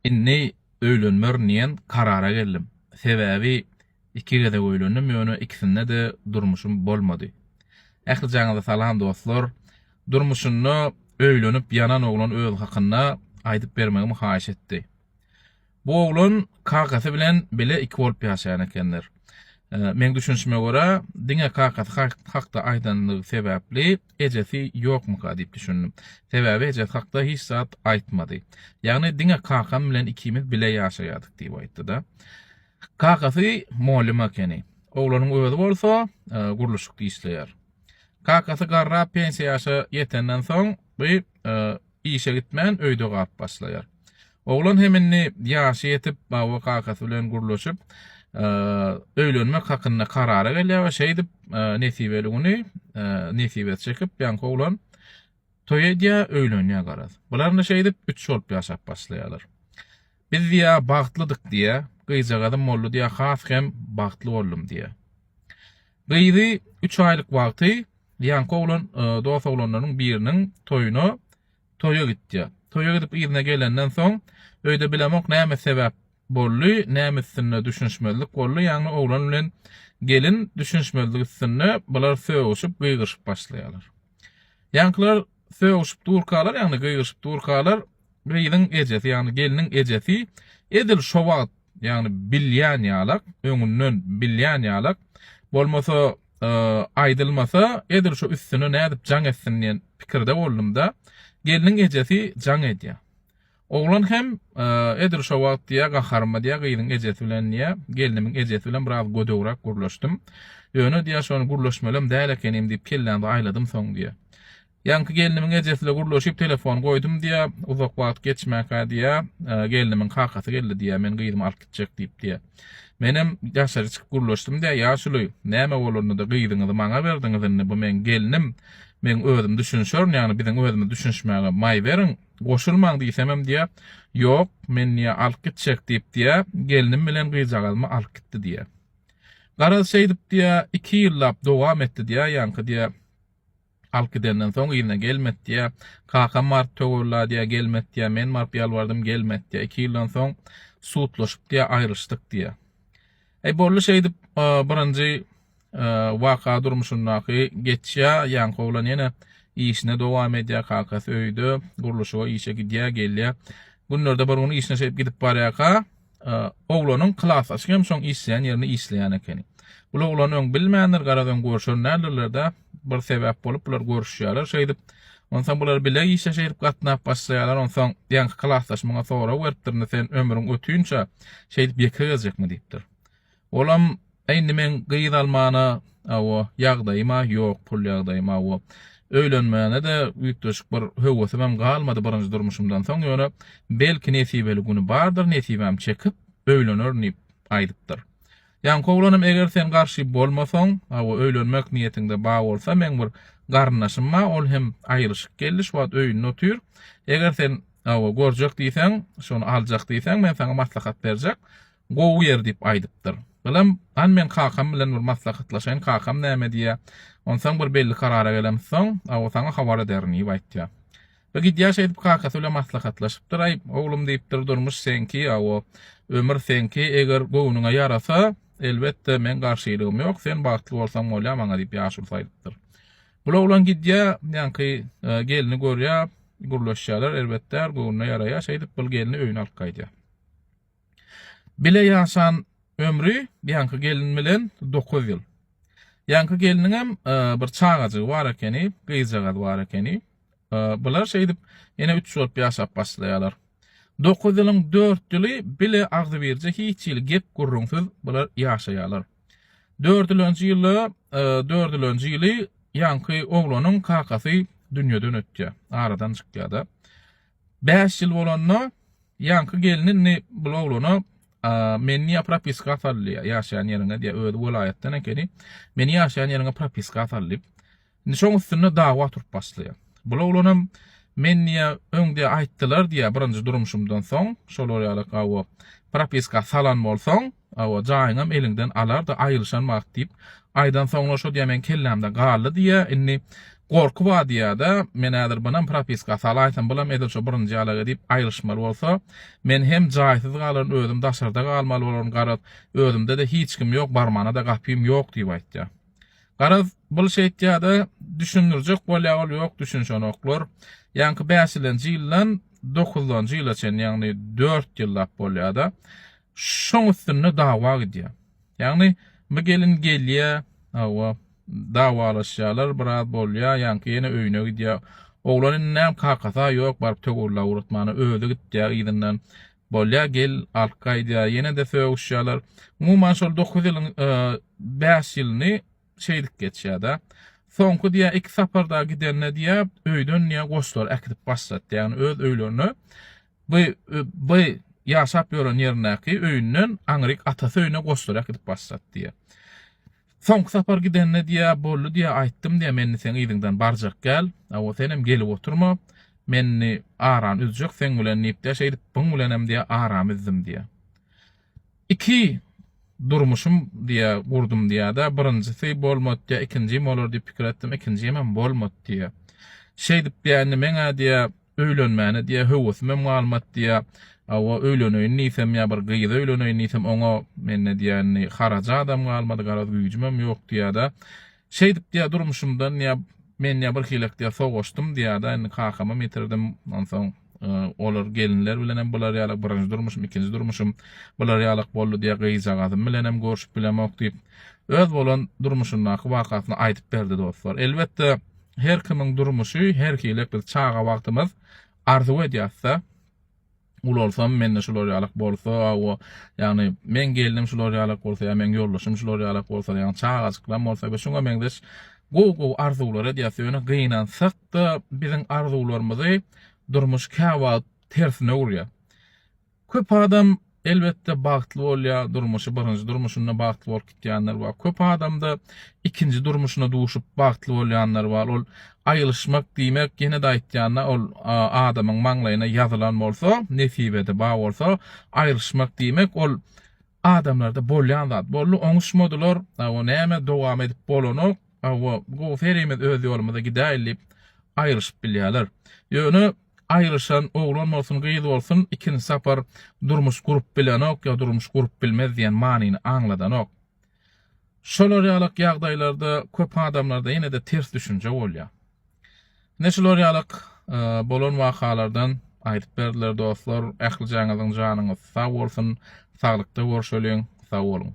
Indi öýlenmerin diýen karara geldim. Sebäbi iki gezek öýlendim ýöne ikisinde-de durmuşym bolmady. Ählijaňyza salam dostlar. Durmuşynda öýlenip ýanan oglan özi hakynda aýdyp bermegimi haýyş etdi. Bu oglan kakasy bilen bile iki bolup ýaşaýan ekenler. Meň düşünişime görä diňe kakasy hakda aýdandygy sebäpli ejesi ýokmyka diýip düşündim. Sebäbi ejesi hakda hiç zat aýtmady. Ýagny diňe kakam bilen ikimiz bile ýaşaýardyk diýip aýtdy-da. Kakasy mugallym ekeni. Oglanyň özi bolsa gurluşykda işleýär. Kakasy garrap pensiýa ýaşa ýetenden soň, bu Işe gitmän, öýde galyp başlaýar. Oglan hem indi ýaşy ýetip, baby kakasy bilen gürleşip, öýlenmek hakynda karara gelýär we şeýdip, nesibeli güni nesibesi çekip, ýaňky oglan toý edýär, öýlenýär garaz. Bular indi şeýdip, üç bolup ýaşap başlaýarlar. Biz diýýär, bagtlydyk diýýär. Gyzjagazym boldy diýýär, has hem bagtly boldum diýýär. Gyzy üç aýlyk wagty Ýaňky oglan dos oglanlarynyň biriniň toýuna toýa gitýär. Toýa gidip yzyna gelenden soň, öýde bilemok näme sebäp boldy, näme üstünde düşünişmezlik boldy, ýagny oglan bilen gelin düşünişmezlik üstünde bular sögüşip, gygyryşyp başlaýarlar. Ýaňkylar sögüşip durkalar, ýagny gygyryşyp durkalar, gyzyň ejesi, ýagny gelniň ejesi edil şo wagt, ýagny bilýän ýalak, öňünden bilýän ýalak, bolmasa, aýdylmasa, edil şo üstüne nädip jaň etsin diýen pikirde boldum-da, gelniň ejesi jaň edýär. Oglan hem, Edil şo wagt, diýýär, gaharyma, diýýär, gyzyň ejesi bilen, diýýär, gelnimiň ejesi bilen biraz gödegräk gürleşdim. Ýöne, diýýär, şony gürleşmelem däl ekenim diýip, kellämde aýladym soň, diýýär. Ýaňky gelnimiň ejesile gürleşip, telefony goýdum, diýýär. Uzak wagt geçmänkä, diýýär, gelnimiň kakasy geldi, diýýär, men gyzymy alyp gitjek diýip, diýýär. Menem daşary çykyp gürleşdim, diýýär, Ýaşuly, näme bolanda-da gyzyňyzy maňa berdiňiz indi, bu meň gelnim, meň özüm düşünşerin, ýagny biziň özümiz düşünişmäge maý beriň, Goşulmaň diýsemem diýýär, Ýok, men diýýär, alyp gitjek diýip diýýär, gelnim bilen gyzjagazymy alyp gitdi diýýär. Garaz, şeýdip diýýär, iki ýyllap dowam etdi diýýär, ýaňky diýýär, alyp gidenden soň yzyna gelmedi diýýär. Kakam baryp töwella diýýär, gelmedi diýýär, men baryp ýalbardym, gelmedi diýýär. Iki ýyldan soň sudlaşyp diýýär, aýrylyşdyk diýýär. Eý bolly şeýdip birinji waka durmuşyndaky geçýä ýaňky oglan ýene işine dowam edýä kakasy öýde gurluşyga işe gidýä gelýä günlerde bir gün işine şeýdip gidip barýaka oglanyň klasdaşy hem şoň işleýän ýerinde işleýän ekeni bul oglan öň bilmändir garaz öň görşen däldirlerde bir sebäp bolup bular görüşýärler şeýdip. Onsoň bular bile işe şeýdip gatnap başlaýarlar. Onsoň ýaňky klasdaş muňa sorag beripdir, indi sen ömrüň ötünçe şeýdip ýeke gezjekmi diýipdir. Olam, Äý indi meň gyz almana, hawa, ýagdaýym-a ýok, pul ýagdaýym, hawa. Öýlenmäne-de üýtgeşik bir höwesim hem galmady birinji durmuşymdan soň, ýöne belki nesibeli güni bardyr, nesibäm çekip, öýlenerin diýip aýdypdyr. Ýaňky oglanym eger sen garşy bolmasaň, hawa öýlenmek niýetiňde bar bolsa meň bir garyndaşym bar, ol hem aýryşyk geldi, şu wagt öýünde otyr. Eger sen, hawa, görjek diýseň, şony aljak diýseň, men saňa maslahat berjek. Gowy ýer diýip aýdypdyr. Balam, han men kakam bilen bir maslahatlaşaýyn, kakam näme diýýär. Onsoň bir belli karara gelemsoň, hawa saňa habar ederin diýip aýtýar. Bu gidýaş edip kakasy bilen maslahatlaşypdyr-aý, Oglum diýipdir, durmuş seňki, awo, ömür seňki, eger göwnüňe ýarasa, elbetde, meň garşylygym ýok, sen bagtly bolsaň bolýa maňa diýip ýaşulusy aýdypdyr. Bul oglan gidýä, ýaňky gelni görýä, gürleşýäler, erbetdär, göwnüne ýaraýa, şeýdip, bul gelni öýüne alyp gaýdýa. Bile ýaşan ömri ýaňky gelin bilen dokuz ýyl. Ýaňky gelniňem bir çagajygy bar ekeni, gyzjagaz bar ekeni. Bular şeýdip ene üç bolup ýaşap başlaýarlar. Dokuz ýylyň dört ýyly bile agzybirje hiç hili gep gürrüňsiz bular ýaşaýarlar. Dördülenji ýylda, dördülenji ýyly ýaňky oglanyň kakasy dünýeden ötýär, aradan çykýar-da. Bäş ýyl bolanda ýaňky gelni indi bul oglana Men niýe propiska asal diýýär, ýaşaýan ýeriňe diýýär, özi welaýatdan ekeni. Meni ýaşaýan ýeriňe propiska asal diýip. Indi şoň üstünde dawa turup başlaýar. Bul oglanam Men niýe öň diýýär aýtdylar diýýär, birinji durmuşymdan soň, şolar ýaly gawa propiska salan bolsaň, Hawa, jaýyňam eliňden alar-da aýryşan wagt diýip, aýdansoňlar şo diýýä meň kellämde galdy diýýä, indi gorky bar diýýä-de, men häzir bunam propiska salaýsam, bulam edil şo birinji ýaly edip aýryşmaly bolsa, men hem jaýsyz galaryn, özüm daşarda galmaly bolaryn, garaz, özümde-de hiç kim ýok, barmana-da gapym ýok diýip aýtýa. Garaz, bul şeýtýä-de, düşündirjek bolýa ol, ýok, düşünişenoklar. Ýaňky bäşilenji ýyldan dokuzdanjy ýyla çenli, ýagny dört ýyllap bolýa-da, Şoň üstünde dawa gidýär. Ýagny bu gelin gelýär, hawa, dawalaşýarlar, biraz bolýar, ýaňky ýene öýüne gidýär. Oglan indi näm kakasy-a ýok, baryp töwirlap ugratmana, özi gitýär yzyndan. Bolýar, gel, alyp gaýdýar, ýene-de sögüşýärler. Umuman şol dokuz ýylyň bäş ýylyny şeýdip geçýär-de. Soňky diýýär, iki sapar-da gidende diýýär, öýden diýýär goşlary äkidip başlatdy. Ýagny öz öýlerine By, by, ýaşap ýören ýerindäki öýünden aňryk atasy öýüne goşlarak gidip başlady, diýýär. Soňky sapar gidende, diýýär, boldy, diýýär, aýtdym, diýýär, men indi seň yzyňdan barjak gäl, hawa, senem gelip oturma, men indi arany üzjek seň bilen diýip-de, şeýdip, byň bilenem, diýýär, aramy üzdim, diýýär. Iki durmuşym, diýýär, gurdum, diýýär-de, birinjisi bolmady, diýýär, ikinjim bolar diýip pikir etdim, ikinjimem bolmady, diýýär. Şeýdip, diýýär, indi meň-ä, diýýär, Öýlenmäne diýýä, höwesimem galmady diýýä. Hawa, öýleneýin diýsem ýa bir gyza öýleneýin diýsem, oňa mende diýýä indi harajadam galmady, garaz güýjümem ýok diýýä-de. Şeýdip diýýä durmuşymdan diýýä, men diýýä birhilek diýýä sowaşdym diýýä-de, indi kakamam ýitirdim. Onsoň olar gelinler bilenem bular ýalak birinji durmuşym, ikinji durmuşym bular ýalak boldy diýýä, gyzjagazym bilenem görşüp bilemok diýip, öz bolan durmuşyndaky wakasyny aýdyp berdi dostlar. Elbetde, Her kimiň durmuşy her hili biz çaga wagtymyz arzuw edýasda ulalsam mende şular ýalak bolsa o ýagny meň gelnim şular ýalak bolsa ýa meň ýoldaşym şular ýalak bolsa ýagny çagajyklam bolsa we şuňa meňzeş gowy gowy arzuwlar edýas ýöne gynansakda biziň arzuwlarymyzy durmuş käwagt tersine urýa. Köp adam elbetde bagtly bolýa, durmuşy birinji durmuşynda bagtly bolup gitýänler bar. Köp adamda ikinji durmuşyna duşup bagtly bolýanlar bar. Ol aýylyşmak diýmek ýene-de aýtýanda ol adamyň maňlaýyna ýazylan bolsa, nesibede bar bolsa, aýylyşmak diýmek ol adamlarda bolýan zat. Boldy oňuşmadylar, o näme dowam edip bolanok. Hawa, gowy serimiz öz ýolumyza gidäýeli diýip aýryşyp bilýärler. Ýöne aýryşan oglan bolsun, gyz bolsun ikinji sapar durmuş gurup bilenok ýa durmuş gurup bilmez diýen manyny aňladanok. Şolar ýalak ýagdaýlarda köp adamlarda ýene-de ters düşünje bolýar. Ine şular ýalak bolan wakalardan aýdyp berdiler dostlar. Ählijaňyzyň janyňyz sag bolsun, saglykda görşeliň, sag boluň.